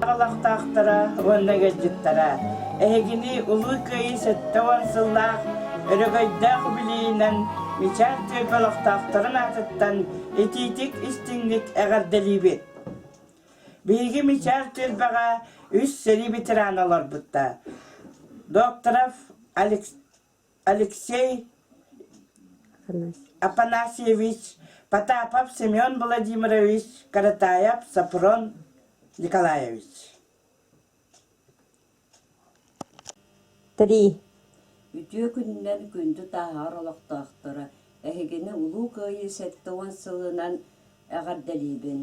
Аҕалахтаахтара уонна ыалдьыттара эһигини Улуу Кыайыы сэттэ уон сыллаах өрөгөйдөөх үбүлүйүүнэн Мичаар түөлбэ олохтоохторун аатыттан итиитик истиҥник эҕэрдэлиибит! Биһиги Мичаар түөлбэҕэ үс сэрии ветерана олорбуттар. Докторов Алекс Алексей Афанасьевич Потапов Семен Владимирович Каратаев Сафрон Николаевич Три. Үтүө күнүнэн күндү тааһар олохтоохторо, эһигини Улуу Кыайыы сэттэ уон сылынан эҕэрдэлиибин.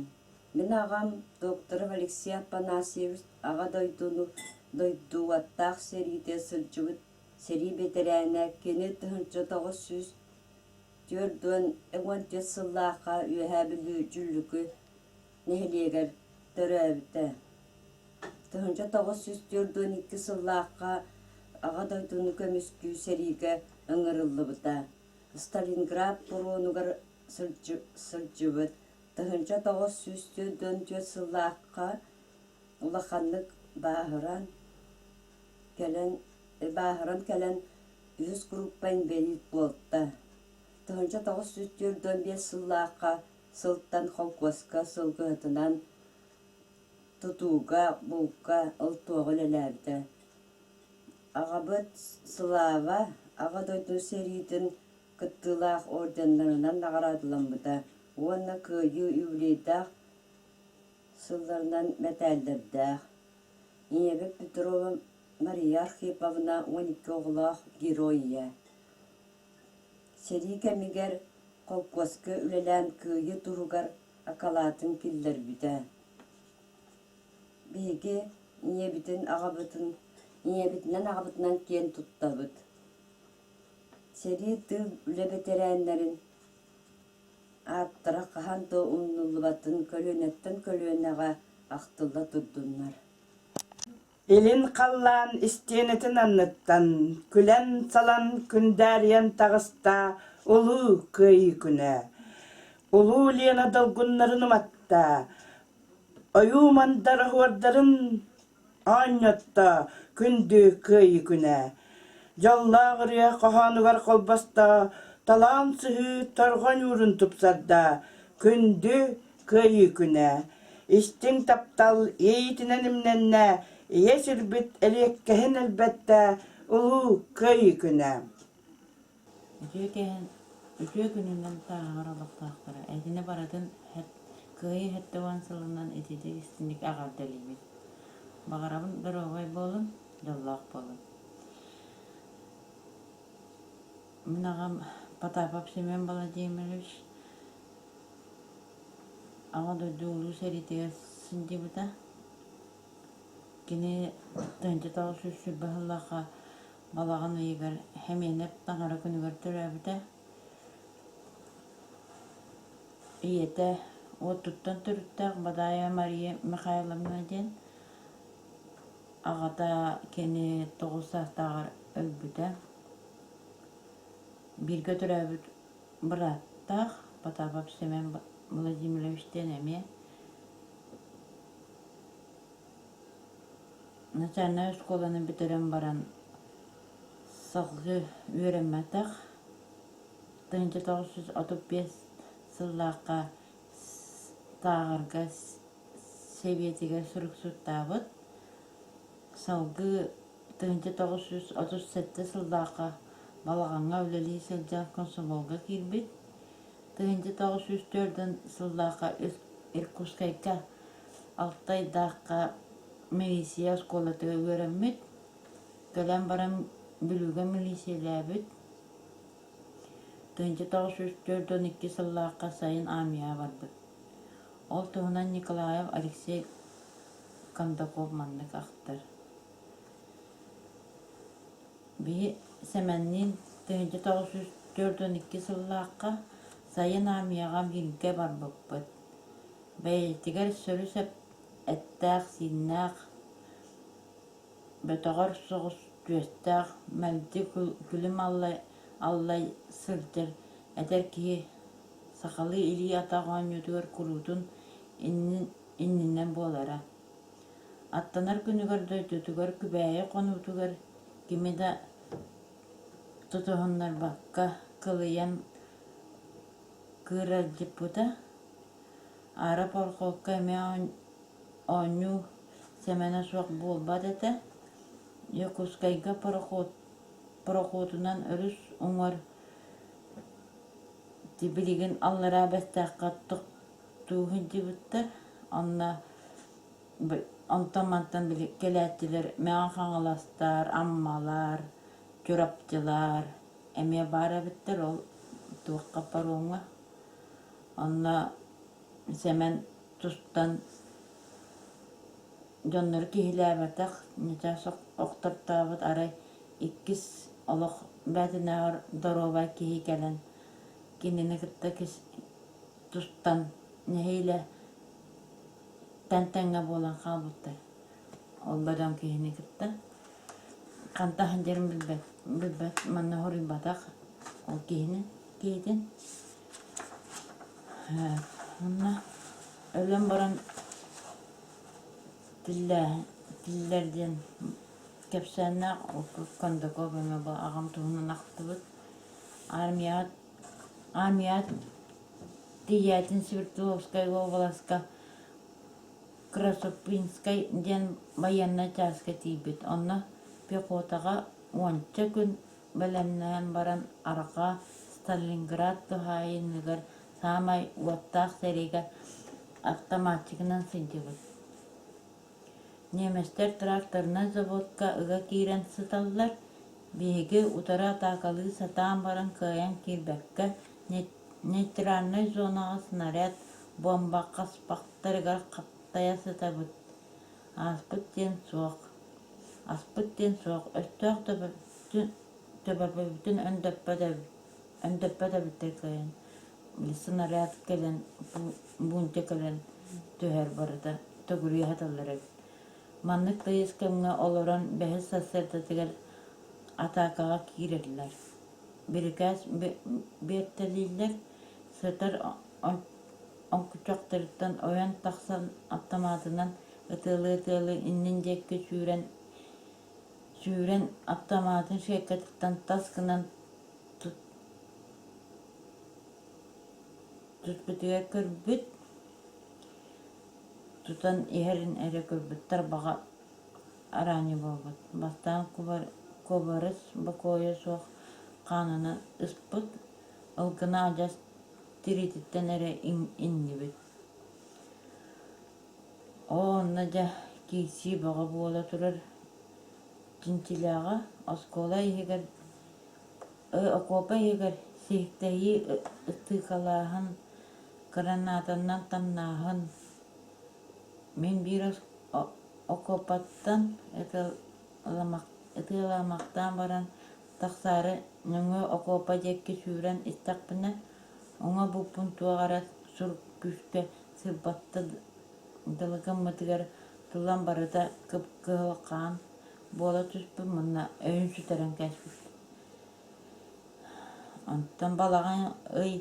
Мин аҕам докторов Алексей Афанасьевич Аҕа дойдуну дойдууаттаах сэриитэ сылдьыбыт сэрии бэтэрээнэ, кини тыһыынча тоҕус сүүс түөрт уон уон түөрт сыллаахха Үөһээ Бүлүү Дьуллүкү нэһилиэгэр төрөөбүтэ. Тыһыынча тоҕус сүүс түөрт уон икки сыллаахха Аҕа дойдуну көмүскүү сэриигэ ыҥырыллыбыта. Сталинград боруонугар сылдьыбыт. Тыһыынча тоҕус сүүс түөрт уон түөрт сыллаахха улаханнык бааһыран, кэлэн бааһыран кэлэн үһүс группа инбэлиит буолта. Тыһыынча тоҕус сүүс түөрт уон биэс сыллаахха сылтан холкуоска сылгыһытынан тутууга, булка ыл туоҕу үлэлээбитэ. Аҕабыт Слава Аҕа дойду сэриитин кыттыылаах орденнарынан наҕараадаламмыта уонна кыайыы юбилейдаах сылларынан мэтээллэрдээх Ийэбит Петрова Мария Архиповна уон икки оҕолоох герой ийэ. Сэрии кэмигэр холкуоска үлэлээн кыайыы туһугар акалаатын киллэрбитэ. Биһиги ийэбитин аҕабытын ийэбитинэн аҕабытынан киэн туттабыт. Сэрии тыыл үлэ бэтэрээннэрин Ааттара хаһан да умнуллубатын көлүөнэттэн көлүөнэҕэ ахтылла турдуннар илин халлаан истиэнэтин анныттан күлэн-салан күндээрийэн таҕыста улуу кыайыы күнэ улуу Лена долгуннарын уматта ойуу мандар оһуордарын Аанньаттаа, күндү Кыайыы күнэ! Дьоллоох ырыа хоһоонугар холбостоо, талаан сыһыы торҕо ньуурун тупсардаа. Күндү Кыайыы күнэ! Истиҥ таптал иэйиитинэн имнэннэ, ийэ сирбит элиэккэһин элбэттэ, улуу Кыайыы күнэ! Үтүө кэһэн, үтүө күнүнэн тааһар олохтоохторо итини барытын кыайыы сэттэ уон сылынан ититик истиҥник эҕэрдэлиибин. Баҕарабын доруобай буолун, дьоллоох буолун. Мин аҕам Потапов Семен Владимирович Аҕа дойду Улуу сэриитигэр сылдьыбыта. Кини тыһыынча тоҕус сүүс сүүс баһылаахха балаҕан ыйыгар Хэмиэнэп таҥара күнүгэр төрөөбүтэ. Ийэтэ уоттуттан төрүттээх Бадаайа Мария Михайловна диэн аҕата кини тоҕус саастааҕар өлбүтэ. Бииргэ төрөөбүт бырааттаах Потапов Семен Владимирович диэн эмиэ Национальнай оскуоланы бүтэрэн баран салгыы үөрэммэтэх. тыһыынча тоҕус жүз отут биэс сыллаахха Тааҕырга сэбиэтигэр суруксуттаабыт. салгыы тыһыынча тоҕус жүз отут сэттэ сыллаахха балаҕаҥҥа үлэлии сылдьан комсомолга киирбит. тыһыынча тоҕус жүз төрдүн сыллаахха Иркутскайга Алтайдаахха милиция оскуолатыгар үөрэммит. Кэлэн баран Бүлүүгэ милиисийэлээбит. Тыһыынча тоҕус сүүс төрт уон икки сыллаахха сайын армияҕа барбыт. Ол туһунан Николаев Алексей Кондаков маннык ахтар. Бии Сэмэнниин тыһыынча тоҕус сүүс төрт уон икки сыллаахха сайын армияҕа бииргэ барбыппыт. Бэйэтигэр сөрү-сап эттээх-сииннээх, бөтөҕөр соҕус түөстээх, мэлдьи күлүм-аллай аллай сылдьар эдэр киһи сахалыы илии-атах оонньуутугар куруутун иннинэ буолара. Аттанар күнүгэр дойдутугар Күбээйи хонуутугар кими да тутуһуннарбакка кылыйан кыырардьыппыта Ара Порохуокка эмиэ оонньуу Сэмэнэ суох буолбат этэ Дьокуускайга пароход пароходунан өрүс уҥар тибилигин аллараа бэстээххэ тохтуу сылдьыбыттар онно онтон-мантан били кэлээччилэр Мэҥэ Хаҥаластар Аммалар Чурапчылар эмиэ баар эбиттэр ол туохха пароҥҥа онно Сэмэн тустан дьоннору киһилээбэтэх ньэтэ охтортообут арай иккис олох бээтинээҕэр доруобай киһи кэлэн кинини кытта тустан нэһиилэ тэн тэҥҥэ буолан хаалбыттар ол да дьон киһини кытта Харда сылдьарын билбэт, билбэт манна хоруйбатах ол киһини киһитин. Э, Онно өлөн баран тиллээһин, тиллэр диэн кэпсээннээх ол Кондаков эмэ бу аҕам туһунан ахтыбыт. Армияҕа армияҕа тиийээтин Свертовскай уобаласка Крошопинскай диэн байыаннай чааска тиийбит, онно пехотаҕа уонча күн бэлэмнээн баран арҕаа Сталинград туһаайыныгар саамай уоттаах сэриигэ автоматчигынан сылдьыбыт. Ньиэмэстэр тракторнай заводка ыга киирэн сыталлар, биһиги утары атаакалыы сатаан баран кыайан киирбэккэ нейтральнай зонаҕа снаряд буомба хаспахтарыгар хаптайа сытабыт ааспыт диэн суох аспыт диэн суох өстөөх төбөбүтүн өндөппөт эбиттэр кэлэн снаряд кэлэн бунтя кэлэн түһэр барыта төгүрүйэ сыталлар эбит маннык тыйыс кэмҥэ олорон бэһис сассыардатыгар атаакаҕа киирэллэр биэртэлииллэр сытар оҥкучахтарыттан ойон тахсан аптамаатынан ытыалыы-ытыалыы иннин диэкки сүүрэн аптамаатын ширкэтиттэн тас гынан түспүтүгэр көрбүт тутан иһэрин эрэ көрбүттэр баҕа араанньы буолбут. Бастаан кубарыс бокуойа суох хаанынан ыспыт, ылгына адьас тириититтэн эрэ иннибит. Оо, онно дьэ киирсии бөҕө буола турар. Чинчилээҕэ оскуола иһигэр, окуопа иһигэр сиһиктэһии ытыыкалааһын, гранатаннан тамнааһын, Мин биир окуопаттан ытыалаамахтаан баран тахсаары нөҥүө окуопа диэки сүүрэн истэхпинэ уҥа буппун туох эрэ сур күүскэ сырбатта дылы гыммытыгар тулан барыта кыһылҕаан буола түспүт манна өйүн сүтэрэн кэспит онтон балаҕан ый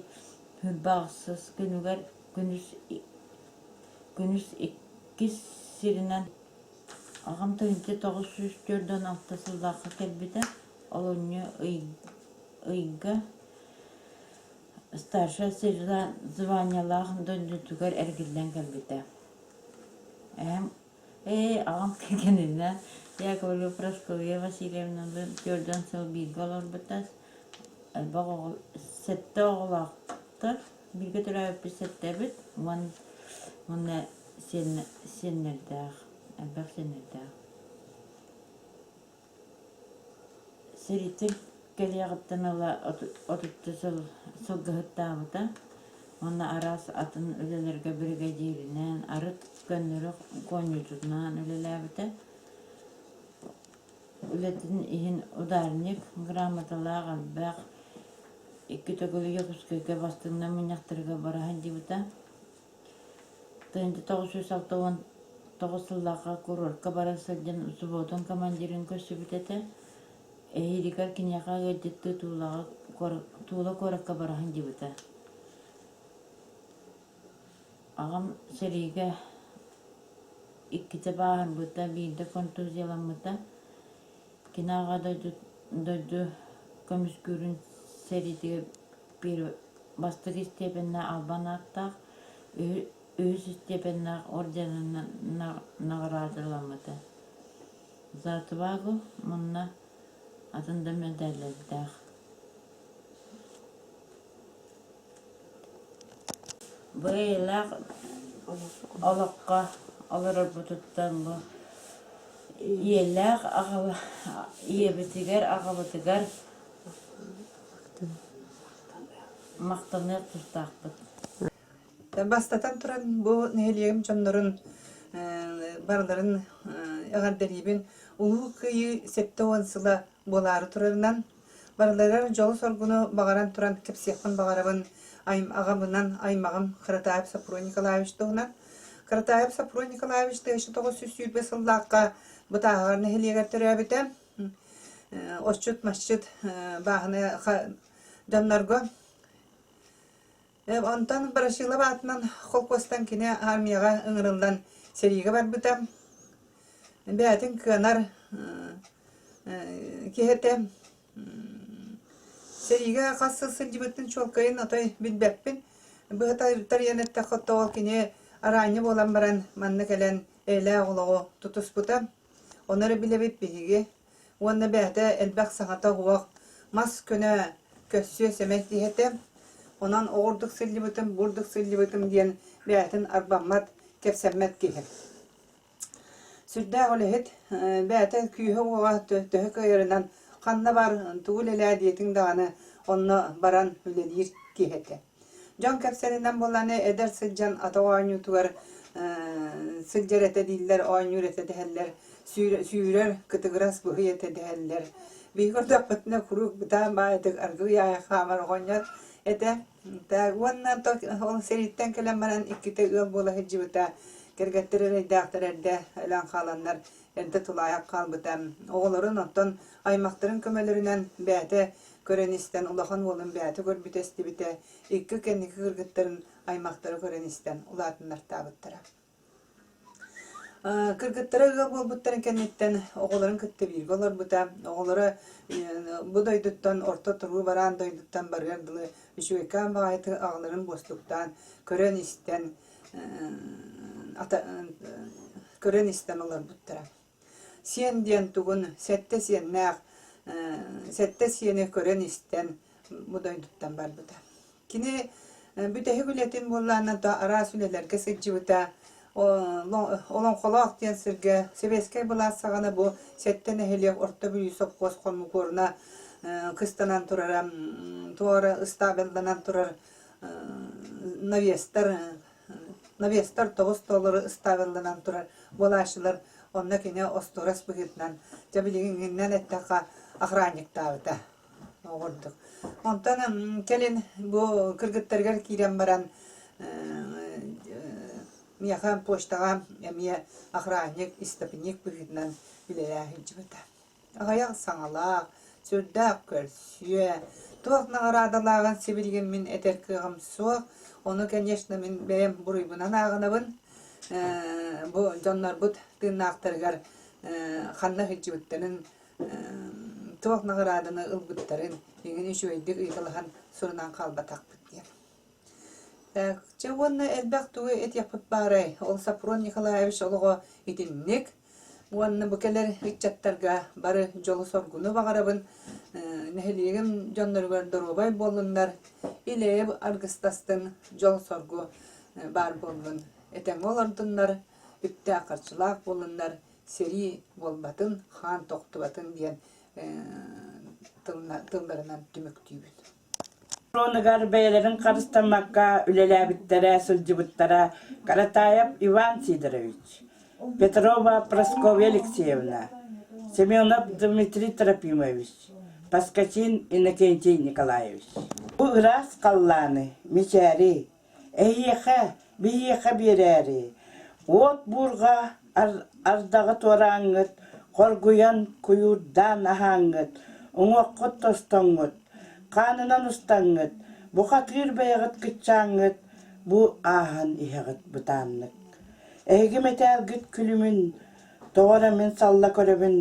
үрбэ ахсыс күнүгэр Күнүс иккис сиринэн аҕам тыһыынча тоҕус сүүс түөрт уон алта сыллаахха кэлбитэ. Олунньу ыйга старшая званиелаах дойдутугар эргиллэн кэлбитэ. Эһэм «Ээ, аҕам кэннинэ я говорю Прасковья Васильевналыын түөрт уон сыл бииргэ олорбута. Элбэх оҕо, сэттэ оҕолоохтор Бииргэ төрөөбүппүт сэттэбит уонна сиэннэрдээх, элбэх сиэннэрдээх. Сэрииттэн кэлиэҕиттэн ыла отучча сыл сылгыһыттаабыта. Уонна араас атын үлэлэргэ биригэдьииринээн, арыт көннөрү гонньуутунан үлэлээбитэ. үлэтин иһин ударник грамоталаах элбэх икки төгүлүгэ пускайга бастыҥна мунньахтарга бара сылдьыбыта тыһыынча тоҕус сүүс алта уон тоҕус сыллаахха курортка бара сылдьан субуотун командирын көрсүбүт этэ эһиилигэр киниэхэ ыалдьыттыы туулаҕа туола куоракка бара сылдьыбыта Аҕам сэриигэ иккитэ баарбыта, биирдэ контузияламмыта. Кини Аҕа дойду дойду көмүскүүрүн сэриитигэр бастакы истиэпэннээх албан ааттаах үһүс истиэпэннээх орденынан наҕараадаламмыта. За отвагу мунна атын да мэдээллэрдээх Бэйэлээх олоххо олорорбутуттан бу ийэлээх аҕабы ийэбитигэр аҕабытыгар махтаныа тустаахпыт. Бастатан туран бу нэһилиэгим дьоннорун барыларын эҕэрдэлиибин. Улуу Кыайыы сэттэ уон сыла буолаары турарынан Барыларыгар дьолу-соргуну баҕаран туран кэпсиэхпин баҕарабын аҕабынан аймаҕым Кыратаев Сапруй Николаевич туһунан. Кыратаев Сапруй Николаевич тыһыынча тоҕус сүүс сүүрбэ сыллаахха Бытааһаҕар нэһилиэгэр төрөөбүтэ. Отчут-масчыт бааһынайа дьоннорго Онтон Ворошилов аатынан холкуостан кини армияҕа ыҥырыллан сэриигэ барбыта. Бэйэтин кыанар киһи этэ. Сэриигэ хас сыл сылдьыбыттын чуолкайын отой билбэппин. Быһа тарыйан эттэххэ, ол кини араанньа буолан баран манна кэлэн эйэлээх олоҕу тутуспута. Ону эрэ билэбит биһиги Уонна бэйэтэ элбэх саҥата-уох, мас көнө, көссүө-сэмэй киһи этэ. Онон оҕурдук сылдьыбытым, буурдук сылдьыбытым диэн бэйэтин арбаммат, кэпсэммэт киһи. Сүрдээх үлэһит, бэйэтэ күүһэ-уоҕа төһө кыайарынан ханна бар, тугу үлэлээ диэтиҥ даҕаны, онно баран үлэлиир киһи этэ. Дьон кэпсэнинэн буланы эдэр сылдьан ата оонньуутугар сылдьар этэ дииллэр, оонньуур этэ дэһэллэр, сүүрэр, кытыгырас быһый этэ дэһэллэр. Биһиги көрдөхпүтүнэ куруук бытаан баайытык аргыый аайы хаамар оҕонньор этэ. Так уонна ол сэрииттэн кэлэн баран иккитэ ыал буола сылдьыбыта. Кэргэттэр эрэйдээхтэр эрдэ өлөн хааланнар эмтэ тулаайах хаалбыта. Оҕолорун оттон аймахтарын көмөлөрүнэн бэйэтэ көрөн-истэн улахан уолун бэйэтэ көрбүт-эстибитэ, икки кэнники кыргыттарын аймахтара көрөн-истэн улаатыннартаабыттара. Кыргыттара ыал буолбуттарын кэнниттэн оҕолорун кытта бииргэ олорбута. Оҕолоро бу дойдуттан орто туруу бараан дойдуттан барыар дылы үчүгэйкээн баҕайытык аҕаларын буостуктаан көрөн-истэн көрөн-истэн олорбуттара. Сиэн диэн тугун сэттэ сиэннээх сэттэ сиэни көрөн-истэн бу дойдуттан барбыта. Кини бүтэһик үлэтин буоллаанан то араас үлэлэргэ сылдьыбыта. Олоҥхолоох диэн сиргэ сэбиэскэй былаас саҕана бу сэттэ нэһилиэк Орто Бүлүү сопхуос хомукуоруна кыстанан турара, туора ыстаабылланан турар навестар навестар тоҕус тоолору ыстаабылланан турар буолааччылар онно кини остуорас быһыытынан дьэ билигиҥҥиннэн эттэххэ охранниктаабыта оҕурдук онтон кэлин бу кыргыттарыгар киирэн баран миэхэ почтаҕа эмиэ охранник истопник быһыытынан үлэлээһин сылдьыбыта Аҕыйах саҥалаах, сүрдээх көрсүө, туох наҕараадалааҕын сибилигин мин этэр кыаҕым суох. Ону, конечно, мин бэйэм буруйбунан ааҕынабын. Бу дьоннорбут тыыннаахтарыгар ханна сылдьыбыттарын, туох наҕарааданы ылбыттарын, эҥин үчүгэйдик ыйыталаһан сурунан хаалбатахпыт диэн. Чэ уонна элбэх тугу этиэхпит баарай, ол Сапрун Николаевич олоҕо итинник. Уонна бу кэлэр ыччаттарга бары дьолу-соргуну баҕарабын. нэһилиэгим дьонноругар доруобай буоллуннар, илэйэ аргыстастыҥ, дьол-соргу баар буоллун. Этэҥҥэ олордуннар, үптээх-харчылаах буоллуннар, сэрии буолбатын, хаан тохтубатын диэн тылларынан түмүктүүбүн. оруонугар бэйэлэрин харыстаммакка үлэлээбиттэрэ сылдьыбыттара Каратаев Иван Сидорович, Петрова Прасковья Алексеевна, Семенов Дмитрий Трофимович, Поскачин Иннокентий Николаевич. Бу ыраас халлааны, мичээри, Эһиэхэ, биһиэхэ биэрээри, уот буурҕа ардаҕы туорааҥҥыт хоргуйан куйуурдаан аһааҥҥыт, уҥуоххут тостоҥҥут, хаанынан устаҥҥыт, бухатыыр бэйэҕит кыччааҥҥыт, бу ааһан иһэҕит бытааннык. Эһиги мэтээлгит күлүмүн тоҕо эрэ мин салла көрөбүн,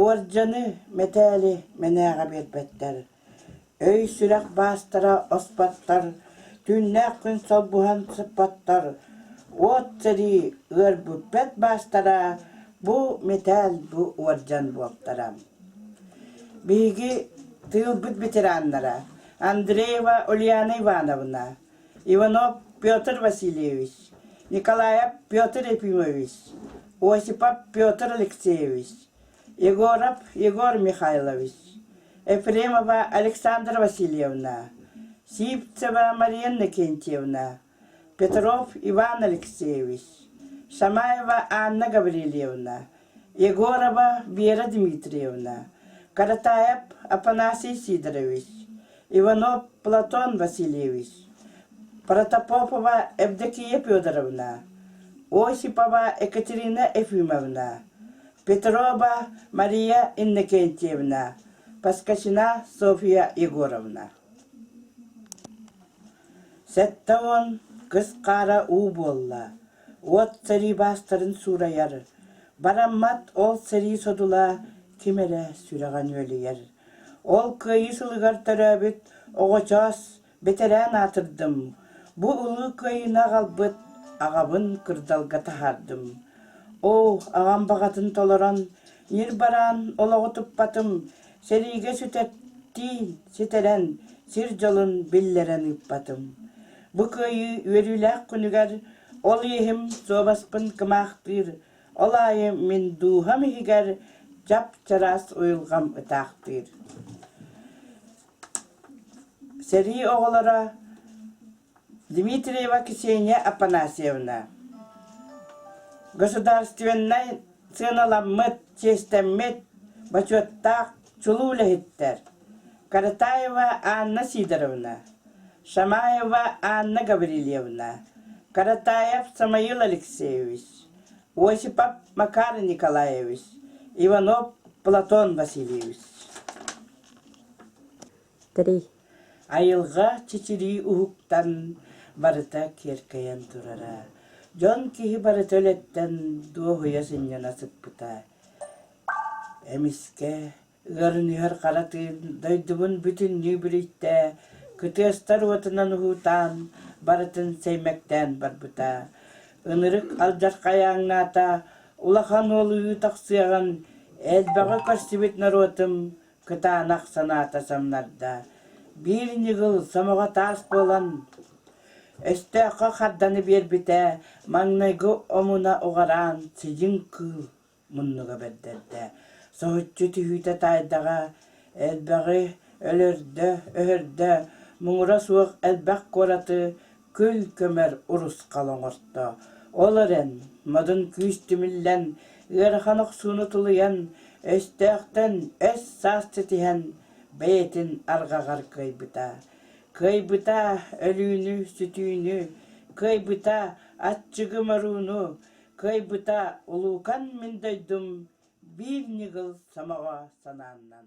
уордьаны, мэтээли мэнээҕэ биэрбэттэр Өй-сүрэх баастара оспоттон, түүннээх күн солбуһан сыппоттор, уот сэрии ыарбыппэт баастара бу мэтээл, бу уордьан буолтара. Биһиги тыылбыт ветераннара Андреева Ульяна Ивановна, Иванов Петр Васильевич, Николаев Петр Ефимович, Осипов Петр Алексеевич, егоров егор михайлович ефремова александра васильевна сивцева мария иннокентьевна петров иван алексеевич шамаева анна гаврильевна егорова вера дмитриевна каратаев афанасий сидорович Иванов Платон Васильевич, Протопопова Евдокия Федоровна, Осипова Екатерина Ефимовна, Петрова Мария Иннокентьевна, Поскачина Софья Егоровна. Сэттэ уон кыс хаара уу буолла. Уот сэрии баастарын суурайар. Бараммат ол сэрии содула ким эрэ сүрэҕин үөлүйэр. Ол Кыайыы сылыгар төрөөбүт оҕочоос, бэтэрээн аатырдым. Бу Улуу Кыайыыны аҕалбыт аҕабын кырдалга таһаардым. Оо, аҕам баҕатын толорон, ньир бараан олоҕу туппатым, сэриигэ сүтэттии, ситэрэн, сир дьолун биллэрэн ыыппатым. Бу Кыайыы үөрүүлээх күнүгэр ол иэһим суобаспын кымаахтыыр, Ол аайы мин дууһам иһигэр чап-чараас уйулҕам ытаахтыыр. Сэрии оҕолоро Дмитриева Ксения Афанасьевна. Государственнай сыаналаммыт, чиэстэммит, бочуоттаах чулуу үлэһиттэр Каратаева Анна Сидоровна, Шамаева Анна Гаврильевна, Каратаев Самаил Алексеевич, Осипов Макар Николаевич, Иванов Платон Васильевич. Тэрий. Айылҕа чичирии уһуктан барыта киэркэйэн турара. Дьон киһи барыта үлэттэн дуоһуйа сынньана сыппыта. Эмискэ ыарыныһар хара тыын дойдубун бүтүннүү бүлүйтэ, кытыастар уотунан уһуутаан, барытын сэймэктээн барбыта. Ынырык алдьархайааҥнаата, улахан уол ыы тахсыаҕын элбэҕи көрсүбүт норуотум кытаанах санаата самнарда: биир ньыгыл сомоҕо таас буолан, өстөөххө харданы биэрбитэ, маҥнайгы омуна уҕараан сидьиҥ кыыл муннуга бэрдэрдэ. Соһуччу түһүүтэ таайдаҕа элбэҕи өлөрдө-өһөрдө, муҥура суох элбэх куораты күл-көмөр урусхал оҥорто. Ол эрэн, модун күүс түмүллэн, ыарахан охсууну тулуйан, өстөөхтөн өс-саас ситиһэн, бэйэтин арҕаҕар кыайбыта. Кыайбыта өлүүнү-сүтүүнү, кыайбыта аччыгы-морууну, Кыайбыта улуукан мин дойдум Биир ньыгыл сомоҕо санааннан